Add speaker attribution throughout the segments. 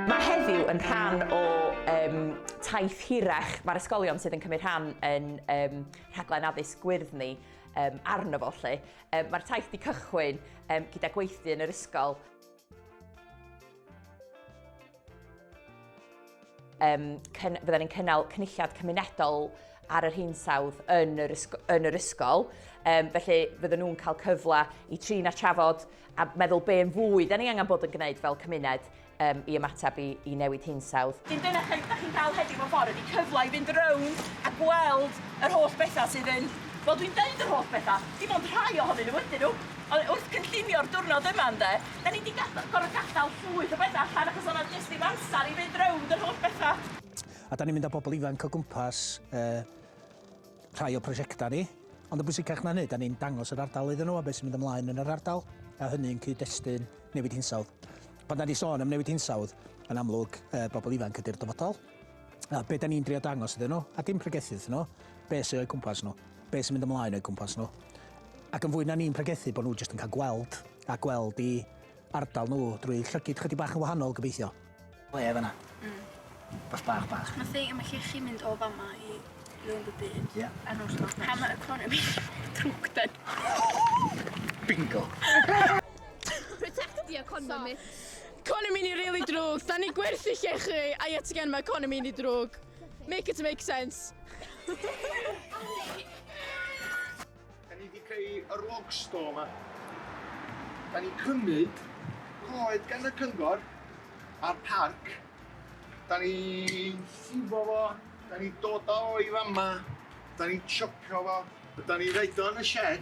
Speaker 1: Mae heddiw yn rhan o um, taith hirach mae'r ysgolion sydd yn cymryd rhan yn um, rhaglen addysg gwyrdd ni um, arno fo lle. Um, Mae'r taith wedi cychwyn um, gyda gweithdy yn yr ysgol. um, cyn, bydden ni'n cynnal cynulliad cymunedol ar yr hinsawdd yn yr, ysg yn yr ysgol. Um, felly fydden nhw'n cael cyfle i trin a trafod a meddwl be yn fwy da ni angen bod yn gwneud fel cymuned um, i ymateb i, i newid hinsawdd. Dim dyna chi, da chi'n cael heddiw o ffordd ydy cyfle i fynd rownd a gweld yr holl bethau sydd yn... Wel, dwi'n deud yr holl bethau, dim ond rhai ohonyn nhw ydyn nhw, Ond wrth gynllunio'r diwrnod yma ynde, 'da ni 'di gada- gor'o' gadal llwyth o betha' allan achos o' 'na jyst ddim amsar i fynd rownd yr holl betha'. A 'da ni'n mynd â
Speaker 2: pobl ifanc o gwmpas yy rhai o prosiecta' ni, ond yn bwysicach na hynny, 'da ni'n dangos yr ardal iddyn nhw a be' sy'n mynd ymlaen yn yr ardal, a hynny yn cyd-destun newid hinsawdd. Pan 'da ni sôn am newid hinsawdd, yn amlwg yy bobl ifanc ydi'r dyfodol, a be' 'da ni'n drio dangos iddyn nhw, a dim pregethu wrthyn nhw, be' sy o'u cwmpas nhw. Be sy'n mynd ymlaen o'i gwmpas nhw. Ac yn fwy na ni'n pregethu bod nhw jyst yn cael gweld a gweld i ardal nhw drwy llygid chydig bach yn wahanol, gobeithio. Ble oedd yna? Mm. Beth bach bach. Mae thing, mae
Speaker 3: chi chi
Speaker 2: mynd o
Speaker 3: fama i rhywun y byd. Ie. Yeah. Ar nos Pam Hammer
Speaker 2: economi. Trwg den. Bingo.
Speaker 3: Protect the economy. Economi ni
Speaker 4: really drwg. Da ni gwerthu llechi. I yet again mae economi ni drwg. Make it make sense!
Speaker 5: Da ni wedi creu yr log store yma. Da ni'n cymryd coed gan y cyngor a'r parc. Da ni'n llifo fo, da ni'n dod o i fama, da ni'n chopio fo, a da ni'n roed o yn y shed.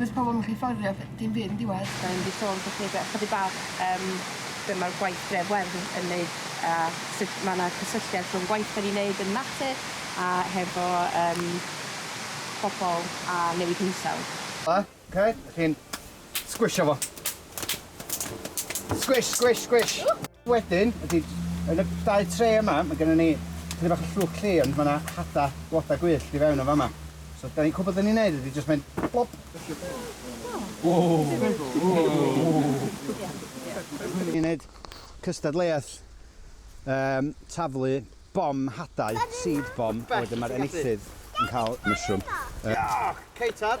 Speaker 6: Does pobol yn gallu fforddio ff- dim byd yn diwedd. Mae e'n di sôn falle be-
Speaker 1: chydig bach yym be' mae'r gwaith Dref Werdd yn yn neud a sut ma' 'na cysylltiad rhwng gwaith 'dan ni'n neud yn natur a hefo yym pobol a newid hinsawdd. A, 'k,
Speaker 5: chi'n sgwisio fo. Squish, squish, squish. Wedyn, ydy, yn y dau tre yma, mae gennym ni chydig bach o llwch lle, ond mae yna hada blodau gwyllt i fewn yn fama. So, da ni'n cwbl da ni'n neud ydy jyst mynd blop. Ni'n neud cystadleuaeth um, taflu bom hadau, seed bom, a wedyn mae'r enillydd yn cael mushroom. Uh, Ceitar!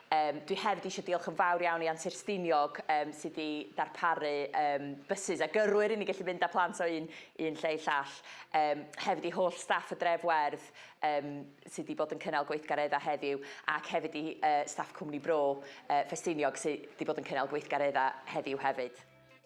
Speaker 1: Yym, dwi hefyd eisiau diolch yn fawr iawn i Antur Stiniog yym sydd wedi darparu yym bysus a gyrwyr i ni gallu mynd â plant o un un lle i llall. Yym, hefyd i holl staff y Dref Werdd yym sydd wedi bod yn cynnal gweithgareddau heddiw ac hefyd i yy staff Cwmni Bro yy Ffestiniog sydd wedi bod yn cynnal gweithgareddau heddiw hefyd.